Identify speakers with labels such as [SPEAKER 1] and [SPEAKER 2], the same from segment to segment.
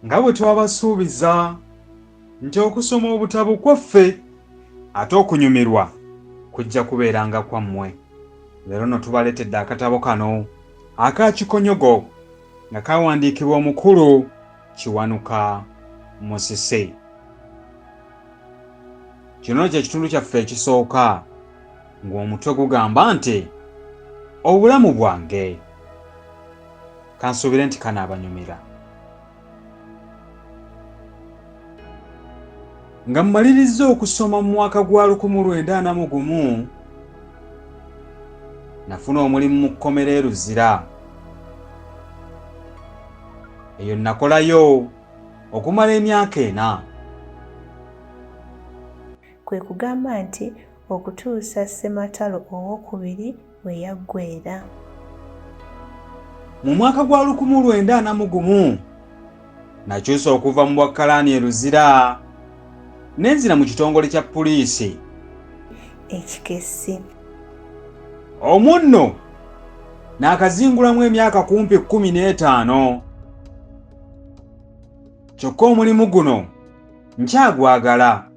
[SPEAKER 1] nga bwe twabasuubiza nti okusoma obutabo kwaffe ate okunyumirwa kujja kubeeranga kwammwe leero no tubaleetedde akatabo kano aka kikonyogo nga kawandiikibwa omukulu kiwanuka musise kino kye kitundu kyaffe ekisooka ng'omutwe gugamba nti obulamu bwange kansuubire nti kanaabanyumira nga mmalirizza okusoma mu mwaka gwa 1941 nafuna omulimu mu kkomera e luzira eyo nnakolayo okumala emyaka ena
[SPEAKER 2] kwe kugamba nti okutuusa Ssematalo owokubiri we yaggweera.
[SPEAKER 1] Mu mwaka gwa lukumu lwenda ana mu gumu nakyusa okuva mu bwakkalaani e Luzira ne nzira mu kitongole kya puliisi ekikessi. Omwo nno naakazingulamu emyaka kumpi kkumi n'etaano kyokka omulimu guno nkyagwagala.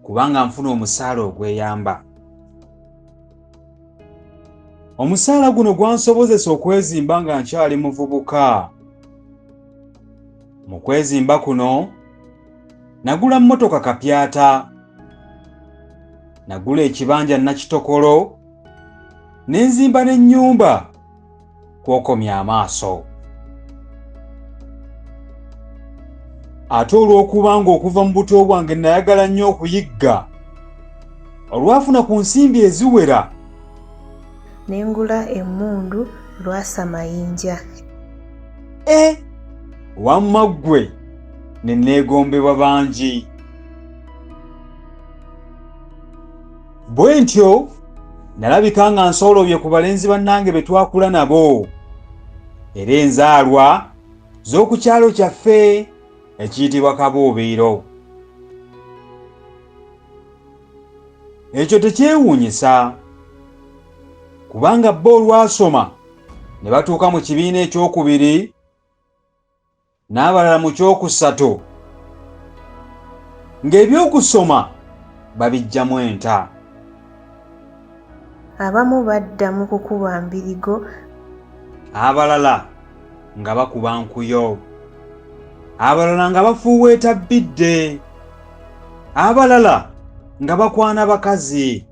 [SPEAKER 1] kubanga nfuna omusaala ogweyamba omusaala guno gwansobozesa okwezimba nga nkyali muvubuka mu kwezimba kuno nagula mmotoka kapyata nagula ekibanja nakitokolo ne nzimba n'ennyumba kwokomya amaaso ate olw'okuba ng'okuva mu buto bwange nayagala nnyo okuyigga olwafuna ku nsimbi eziwera
[SPEAKER 2] ne ngula emmundu lwasa mayinja e
[SPEAKER 1] wamma ggwe ne neegombebwa bangi bwe ntyo nalabika nga nsoolobye ku balenzi bannange be twakula nabo era enzaalwa z'oku kyalo kyaffe ekiyitibwa kabuubiiro ekyo tekyewuunyisa kubanga bo olwasoma ne batuuka mu kibiina ekyokubiri n'abalala mu kyokusatu ng'ebyokusoma babiggyamu enta.
[SPEAKER 2] Abamu badda mu kukuba mbirigo.
[SPEAKER 1] Abalala nga bakuba nkuyo. Abalala nga bafuuweeta bbidde. Abalala nga bakwana bakazi.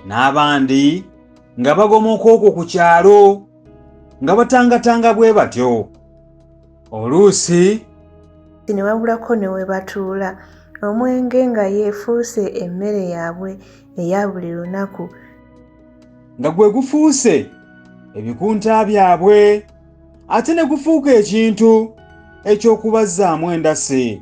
[SPEAKER 1] N'abandi nga bagomoka okwo ku kyalo. nga batangatanga bwe batyo oluusi
[SPEAKER 2] ne wabulako ne we batuula omwenge nga yeefuuse emmere yaabwe eya buli lunaku
[SPEAKER 1] nga gwe gufuuse ebikunta byabwe ate ne gufuuka ekintu eky'okubazzaamu endasi